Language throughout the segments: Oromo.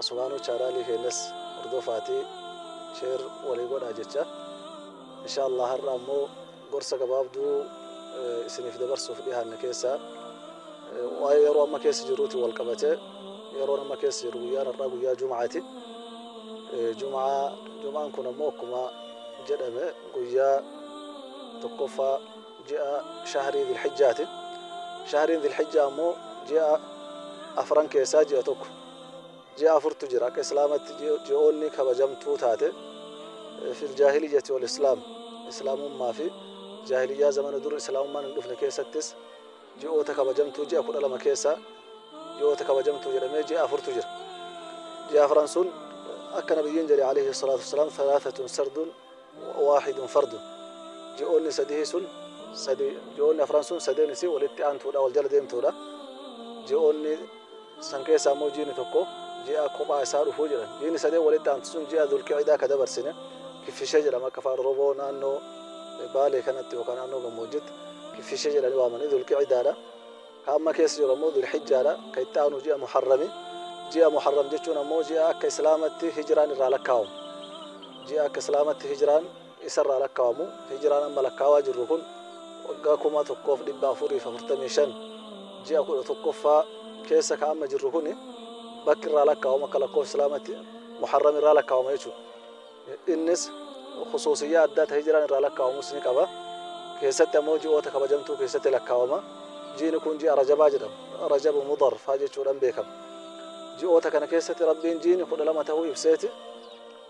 Asumaanuu chaanaalii keenyas hordofaatii share walii godhaa jecha inshaa Allah har'a ammoo gorsa gabaabduu isiniif dabarsuuf dhihaanne keessaa waa'ee yeroo amma keessa jiruutiin wal qabatee yeroon amma keessa jiru guyyaan har'aa guyyaa Jumaati. Jumaa Jumaan kun ammoo akkuma jedhame guyyaa tokkoffaa ji'a shahrii Dilhijjaati. Shahriin Dilhijjaa ammoo ji'a afran keessaa ji'a tokko. Ji'a afurtu jira akka Islaamatti ji'oonni kabajamtuu taate fil jaahiliyyati wal islaam Islaamummaa fi jaahiliyyaa zamana dur Islaamummaan hin dhufne keessattis ji'oota kabajamtuu ji'a kudha lama keessaa ji'oota kabajamtuu jedhamee ji'a afurtu jira. Ji'a afran sun akka nabiyyiin jedhe alayhi salaatu wassalaam thalaatatun sardun waahidun fardun ji'oonni sadihii sun sadi ji'oonni afran sun sadeen isii walitti aantuudha wal jala deemtuudha ji'oonni san keessaa immoo jiini tokko ji'a kophaa isaa dhufuu jedhan jiini sadeen walitti aantu sun ji'a dulqiidaa ka dabarsine kiffishee jedhama akka faan roboo naannoo baalee kanatti yookaan naannoo gammoojjitti kiffishee jedhanii waamanii dulqiidaadha Ka amma keessa jiru ammoo Dul-Hijjaadha, ka itti aanu ji'a Muharrami. Ji'a Muharram jechuun ammoo ji'a akka Islaamatti Hijraan irraa lakkaawamu. Ji'a akka Islaamatti Hijraan isarraa lakkaawamu. Hijraan amma lakkaawaa jirru kun waggaa 1445 ji'a 11ffaa keessa ka amma jirru kuni bakki irraa lakkaawamu akka lakkoofsa Islaamatti Muharram irraa lakkaawama jechuudha. Innis khusuusiyyaa addaa ta hijraan irraa lakkaa'amus ni qaba. Keessatti ammoo ji'oota kabajamtuu keessatti lakkaa'ama. Ji'ni kun ji'a Rajabaa jedhama. Rajabu Mudar faa jechuudhaan beekama. Ji'oota kana keessatti Rabbiin ji'ni kudha lama tahuu ibseeti.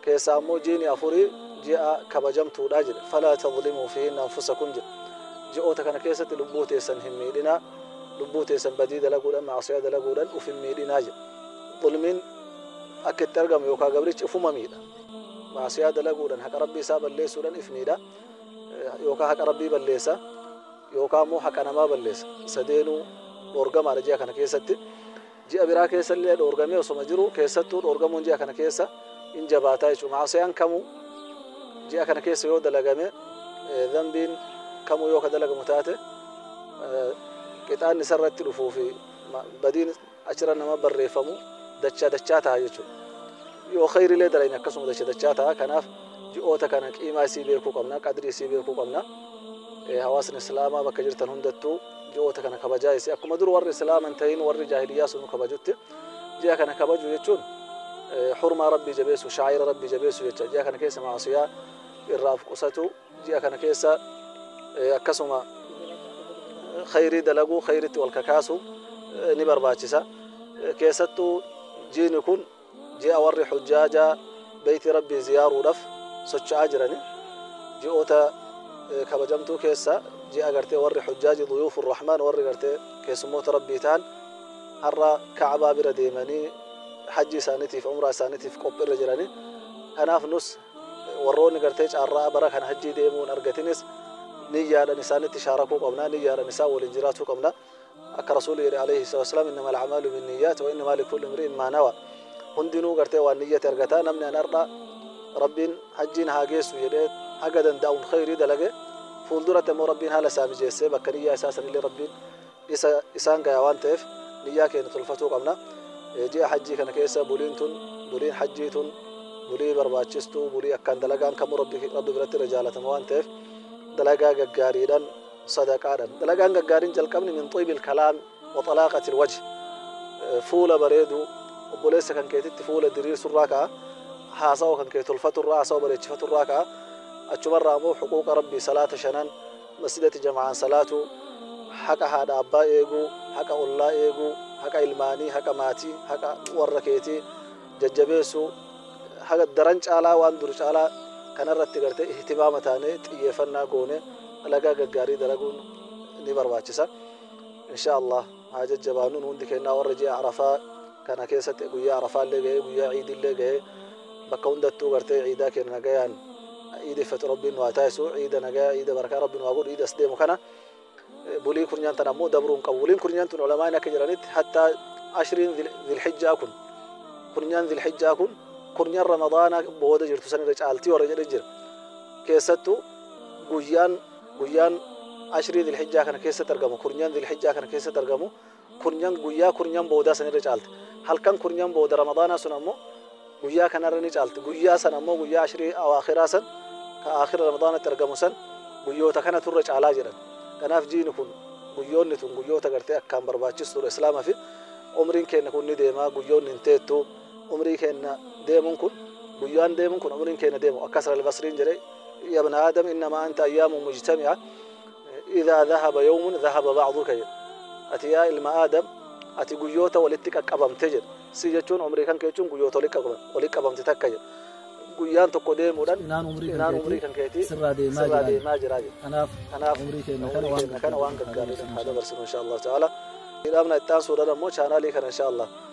Keessaa ammoo ji'ni afurii ji'a kabajamtuudha jedhe. Falaa tadlimuu fiihinna anfusakum jedhe. Ji'oota kana keessatti lubbuu teessan hin miidhinaa. Lubbuu teessan badii dalaguudhaan, ma'asiyaa dalaguudhaan uf hin miidhinaa jedhe. Zulmiin akka itti argamu yookaa gabrichi ufuma miidha. Maasiyaa dalaguudhan haqa Rabbii isaa balleessuudhan if miidha. Yookaa haqa Rabbii balleessa. Yookaa immoo haqa namaa balleessa. Sadeenuu dhoorgamaadha ji'a kana keessatti. Ji'a biraa keessa illee dhoorgamee osoma jiru keessattuu dhoorgamuun ji'a kana keessa in jabaataa jechuudha. Maasiyaan kamuu ji'a kana keessa yoo dalagame dhanbiin kamuu yoo ka dalagamu taate qixaanni isarratti dhufuu fi badiin achirra nama barreeffamu dachaa dachaa ta'a jechuudha. Yoo khayrilee dalayne akkasuma dacha dachaa ta'a. Kanaaf ji'oota kana qiimaa isii beekuu qabna, qadrii isii beekuu qabna. Hawaasni Islaamaa bakka jirtan hundattuu ji'oota kana kabajaa isii akkuma dur warri Islaama hin ta'in warri jaahiliyyaa sun kabajutti ji'a kana kabajuu jechuun hurmaa Rabbii jabeessu, shaa'ira Rabbii jabeessu jecha ji'a kana keessa maasiyaa irraa of qusatu. ji'a kana keessa akkasuma khayrii dalaguu khayritti wal kakaasu ni barbaachisa keessattuu jiini kun ji'a warri hujjaajaa beeyti rabbii ziyaaruudhaaf socho'aa jirani ji'oota kabajamtuu keessa ji'a gartee warri hujjaaji duyuufu rahmaan warri gartee keessummoota rabbii ta'an har'a ka'abaa bira deemanii hajji isaaniitiif umraa isaaniitiif qophiirra jirani kanaaf nus warroonni gartee caarraa bara kana hajjii deemuu hin argatinis niyyaadhan isaanitti shaarakuu qabna niyyaadhan isaan waliin jiraatuu qabna akka rasuulli jedhe alayhi salatu wasalaam innama al'amaalu bin niyyaat wa innamaa likulli imri'in maa nawa hundinuu gartee waan niyyate argata namni an har'a rabbiin hajjiin haa geessu jedhee haga danda'uun khayrii dalage fuulduratti ammoo rabbiin haala isaa mijeessee bakka niyyaa isaa sanillee rabbiin isa isaan gaya waan ta'eef niyyaa keenya tolfatuu qabna. Ji'a hajjii kana keessa buliin tun buliin hajjii tun bulii barbaachistuu bulii akkaan dalagaan kamuu rabbi rabbi biratti irra jaalatama waan ta'eef dalagaa gaggaariidhaan sadaqaadhaan dalagaan gaggaariin jalqabni min xiibil kalaam wa xalaaqatil wajhi fuula bareedu obboleessa kan keetitti fuula diriirsurraa ka'a haasawa kan kee tolfaturraa haasawa bareechifaturraa ka'a achumarraa immoo huquuqa rabbii salaata shanan Masjidatti jama'aan salaatuu, haqa haadha abbaa eeguu, haqa ollaa eeguu, haqa ilmaanii, haqa maatii, haqa warra keetii jajjabeessuu, haga daran caalaa waan dur caalaa kanarratti gartee ihtimaama taanee xiyyeeffannaa goone dalagaa gaggaarii dalaguun ni barbaachisa. Inshaa Allaah. haa jajjabaannu nu hundi kennaa warra ji'a arafaa kana keessatti guyyaa arafaallee ga'ee guyyaa ciidillee ga'ee bakka hundattuu gartee ciidaa keenya nagayaan ciideffatu rabbiin nu haa taasisu ciida nagayaa ciida barakaa rabbiin nu haa godhu ciida as deemu kana bulii kurnyan tan ammoo dabruu hin qabu buliin kurnyan tun ulamaan akka jedhanitti hattaa ashriin zilhijjaa kun kurnyan zilhijjaa kun kurnyan ramadaana booda jirtu sanirra caaltii warra jedhe jira keessattuu guyyaan Guyyaan Ashrii Dhil-Hijjaa kana keessatti argamu, kurnyan Dhil-Hijjaa kana keessatti argamu, kurnyan guyyaa kurnyan boodaa san irra caalti. Halkan kurnyan booda Ramadaanaa sun ammoo guyyaa kana irra ni caalti. Guyyaa san ammoo guyyaa Ashrii Awaakhiraa san ka Aakhira Ramadaanatti argamu san guyyoota kanatu irra caalaa jedhan. Kanaaf jiini kun guyyoonni tun guyyoota gartee akkaan barbaachistuudha Islaamafi. Umriin keenna kun ni deema, guyyoonni hin teettu. umrii keenna deemun kun guyyaan deemun kun umriin keenna deemu akka hasan albasriin jedhe ya ibna aadam innama anta ayyaamun mujtami'a idhaa dhahaba yawmun dhahaba ba'duka jedhe ati yaa ilma aadam ati guyyoota walitti qaqqabamte jedhe si jechuun umrii kan kee jechuun guyyoota walitti qabamte takka jedhe guyyaan tokko deemuudhan inaan umrii kan keetii sirraa deemaa jiraa jedhe kanaaf umrii keenna kana waan gaggaarii haa dabarsinu insha allahu ta'ala dhaabna itti aansuudhan ammoo chaanaalii kana insha allah